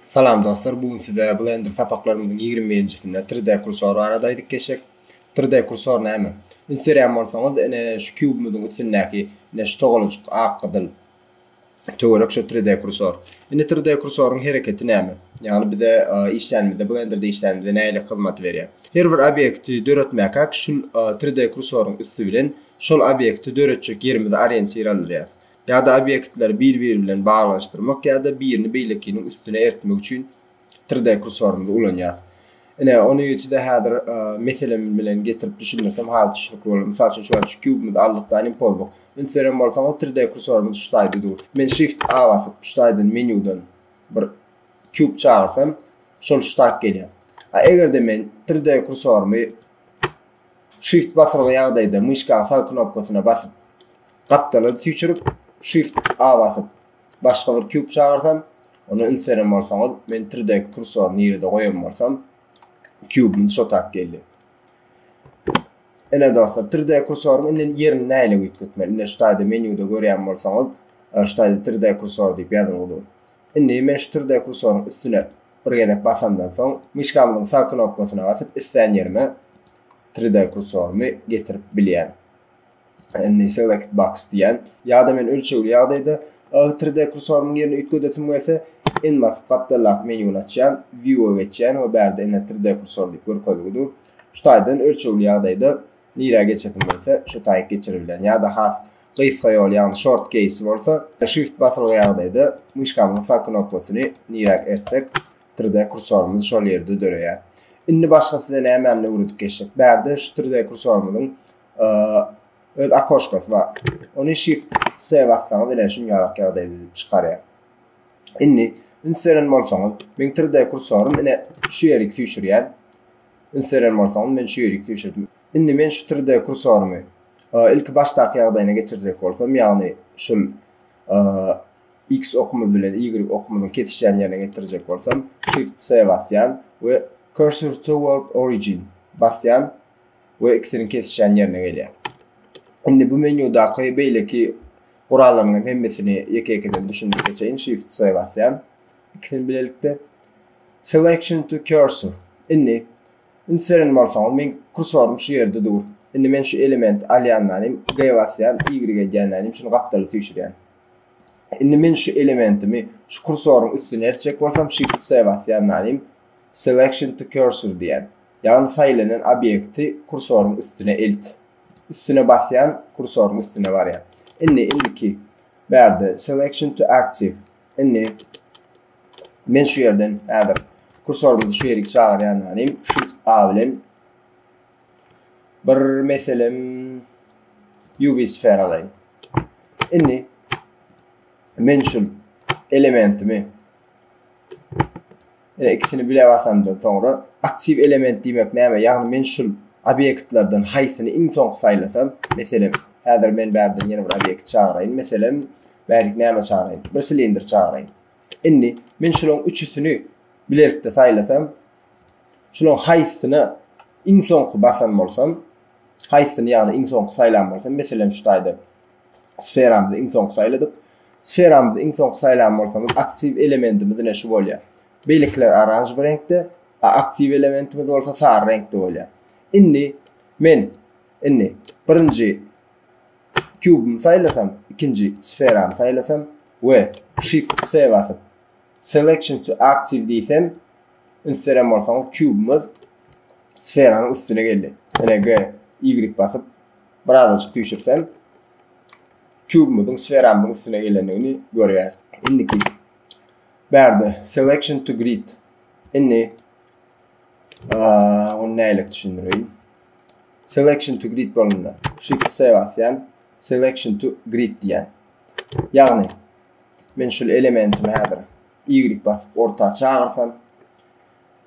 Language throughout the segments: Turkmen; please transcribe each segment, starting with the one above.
Salam dostlar, bu gün size Blender sapaklarymyzyň 21-njisinde 3D kursor barada aýdyp geçek. 3D kursor näme? Üns berýän bolsaňyz, ine şu kubumyzyň üstündäki ine şu togalajyk ak gyzyl töwerek şu 3D kursor. Indi 3D kursoryň hereketi näme? Ýagny bize e, işlänimizde, Blenderde işlänimizde näle hyzmat berýär? Her bir obýekti döretmäkä şu 3D e, kursoryň üsti bilen şol obýekti döretjek ýerimizi orientir aldyrýar. ýa-da obýektleri bir-biri bilen baglanyşdyrmak ýa-da birini beýlekiniň üstüne eritmek üçin 3D kursorymyzy ulanýarys. Ine, ony size häzir meselem bilen getirip düşündirsem has düşnükli bolar. Mysal üçin, şu wagt şu kubymyzy aldyk-da, anim pozduk. Üns beren bolsaňyz, 3D kursorymyz şu taýda dur. Men Shift A basyp, şu taýdan menýudan bir kub çagyrsam, şol şu taýda gelýär. A eger-de men 3D kursorymy Shift basylgy ýagdaýda myşkanyň sag knopkasyna basyp, Gapdala süýçürip, Shift A basyp, başga bir kýub çagyrsam, ony üns beren bolsaňyz, men 3D kursory nirede goýan bolsam, kýubumyz şo tap geldi. Ine dostlar, 3D kursoryň indi ýerini nähili üýtgetmeli? Indi şu taýda menýuda görýän bolsaňyz, e, şu taýda 3D kursor diýip ýazylgy dur. Indi men şu 3D kursoryň üstüne bir gezek basamdan soň, myşkamyzyň sag knopkasyna basyp, islän ýerime 3D kursorymy getirip bilýän. Indi select box diýen. Ýa-da men ölçegli ýagdaýda agy 3D kursorymyň ýerini üýtgedesim gelse, N basyp gapdaldaky menýuny açýan, View-a geçýän we bärde ine 3D kursor diýip görkezgi dur. Şu taýdan ölçegli ýagdaýda nirä geçesim gelse, şo taýy geçiribilýän. Ýa-da has gysga ýol, ýagny short keýsi bolsa, Shift basylgy ýagdaýda myşkamyzyň sag knopkasyny niräk ertsek, 3D kursorymyz şol ýerde döreýär. Indi başga size nämäni öwredip geçdik. Bärde şu 3D kursorymyzyň öz akoşkasy bar. Ony shift C bassaňyz ine şuň ýalak ýagdaýda edip çykarýar. Indi üns beren bolsaňyz, men 3D kursorym ine şu ýerik süýşürýär. Üns beren bolsaňyz men şu ýerik süýşürdim. Indi men şu 3D kursorymy ilki başdaky ýagdaýyna geçirjek bolsam, ýagny şul X okumyz bilen Y okumyzyň kesişýän ýerine getirjek bolsam, shift C basýan we cursor toward origin basýan we ikisiniň kesişýän ýerine gelýär. Indi bu menýudaky beýleki gurallaryň hemmesini ýeke-ýekeden düşündirip geçeýin. Shift C basýan. İkisini bilelikde. Selection to cursor. Indi ünseren bolsaňyz men kursorum şu ýerde dur. Indi men şu elementi alýanlanym G basýan, Y edýänlanym şuny gapdaly süýşürýän. Indi men şu elementimi şu kursoryň üstüne eltjek bolsam Shift C basýanlanym selection to cursor diýen. Ýagny saýlanan obýekti kursoryň üstüne ilt. Üstüne basýan kursoryň üstüne barýar. Indi indiki bärde selection to active. Indi men şu ýerden häzir kursorymyzy şu ýerik çagyrýanlarym shift A bilen bir meselem UV sfera alaýyn. Indi men şu elementimi Ine ikisini bile basandan soňra aktiw element diýmek näme? Ýagny men şul obýektlerden haýsyny iň soňky saýlasam, meselem, häzir men bärden ýene bir obýekt çagyraýyn, meselem, bärlik näme çagyraýyn? Bir silindr çagyraýyn. Indi men şularyň üçüsini bilelikde saýlasam, şularyň haýsyna iň soňky basan bolsam, haýsyny ýagny iň soňky saýlan bolsam, meselem şu taýda sferamyzy iň soňky saýladyk. Sferamyzy iň soňky saýlan bolsaňyz, aktiw elementimiz ine şu bolýar. Beýlekiler oranž bir reňkde, a aktiw elementimiz bolsa sary reňkde bolýar. Indi men indi birinji kubymy saýlasam, ikinji sferamy saýlasam we shift C basyp selection to active diýsem, ünseren bolsaňyz kubymyz sferanyň üstüne geldi. Ine G, Y basyp birazajyk süýşürseň kubumyzyň sferamyzyň üstüne eýlendigini görýäris. Indiki bärde selection to grid. Indi onu näle düşündireýin? Selection to grid bolanda shift C basýan, selection to grid diýen. Ýagny men şu elementimi häzir Y basyp orta çagyrsam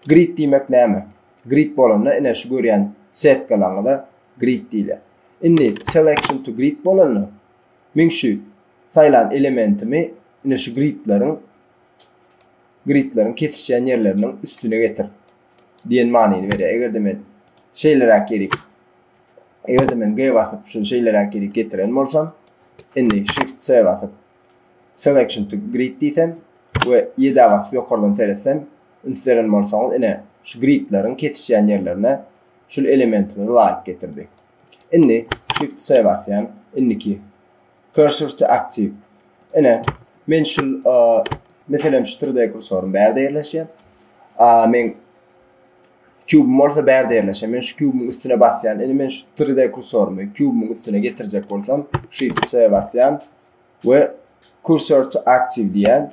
Grid diýmek näme? Grid bolanda ine şu görýän setkalaryňyza grid diýilýär. Indi selection to grid bolanda men şu saýlan elementimi ine şu gridleriň gridleriň kesişýän ýerleriniň üstüne getir diýen manyny berýär. Eger-de men şeýleräk ýeri eger-de men G basyp şunu şeýleräk ýeri getiren bolsam, indi shift C basyp selection to grid diýsem we ýedä basyp ýokardan seretsem üns beren bolsaňyz ine şu gridleriň kesişýän ýerlerine şu elementimizi laýyk getirdi. Indi shift C basýan indiki cursor to active. Ine men şu meselem şu 3D kursorum bärde ýerleşýär. A men kubum bolsa bärde ýerleşýär. Men şu kubumyň üstüne basýan. Indi men şu 3D kursorymy kubumyň üstüne getirjek bolsam shift C basýan. we cursor to active diýen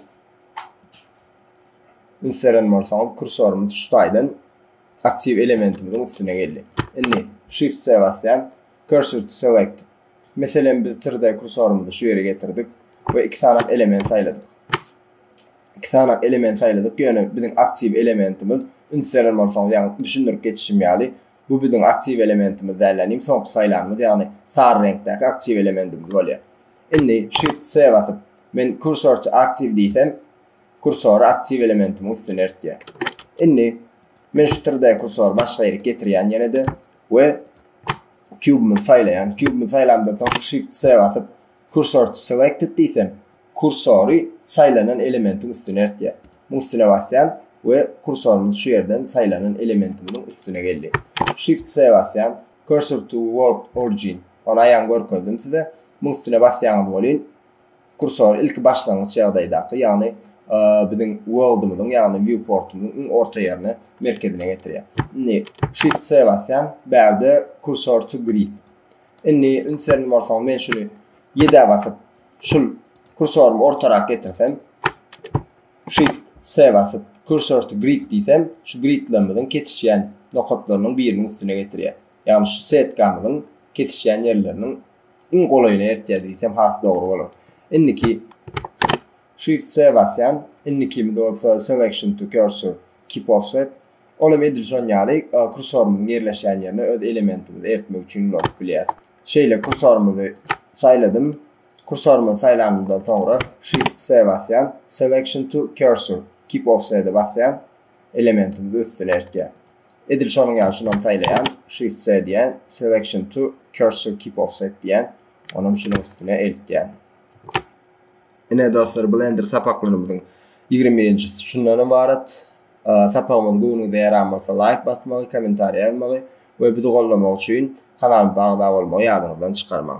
ünseren bolsaňyz kursorumyz şu taýdan aktiv elementimiziň üstüne geldi. Indi shift C basýan cursor to select. Meselem biz tirde kursorumyzy şu ýere getirdik we iki sanak element saýladyk. Iki sanak element saýladyk, ýöne biziň aktiv elementimiz ünseren bolsaňyz, ýagny düşündirip geçişim ýaly Bu biziň aktiw elementimiz dälden iň soňky saýlanymyz ýagny sary reňkdäki aktiw elementimiz bolýar. Indi Shift C basyp men Cursor to Active diýsem kursory aktiw elementimiň üstüne eltýär. Indi men şu 3D kursory başga ýerik getirýän ýene-de we kubymyzy saýlaýan. Kubymyzy saýlandan soň Shift C basyp Cursor to Selected diýsem Kursory saýlanan elementiň üstüne eltýär. Muň üstüne basýan we kursorymyz şu ýerden saýlanan elementimiziň üstüne geldi. Shift C basýan, Cursor to world origin, ony aýan görkezdim size. Muň üstüne basýaňyz welin, kursor ilki başlangyç ýagdaýdaky, ýagny biziň worldymyzyň, ýagny viewportymyzyň iň orta ýerine, merkezine getirýär. Indi Shift C basýan, bärde Cursor to grid. Indi üns bermeli bolsaňyz, men şuny ýedä basyp, şul kursorymy ortarak getirsem shift s basyp cursor to grid diýsem şu gridlerimiziň kesişýän nokatlarynyň biriniň üstüne getirýär. Ýagny şu setkamyzyň kesişýän ýerleriniň iň golaýyna eritýär diýsem has dogry bolar. Indiki shift s basýan. Indikimiz bolsa selection to cursor keep offset. Ol hem edil şon ýaly kursorymyzyň ýerleşýän ýerine öz elementimizi eritmek üçin ulanyp bilýäris. Şeýle kursorymyzy saýladym. Kursorymy saýlanymdan soňra Shift C basýan, Selection to Cursor, Keep Offset-e basýan, elementimizi üstüne eltýän. Edil şonuň ýaly şuny hem saýlaýan, Shift C diýýän, Selection to Cursor, Keep Offset diýýän, ony hem şunuň üstüne eltýän. Ine dostlar, Blender sapaklarymyzyň 21-nji şundan ybarat. Sapagymyz göwnüňize ýaran bolsa laýk basmagy, kommentariýa ýazmagy we bizi goldamagy üçin kanalymyza agza bolmagy ýadyňyzdan çykarmaň.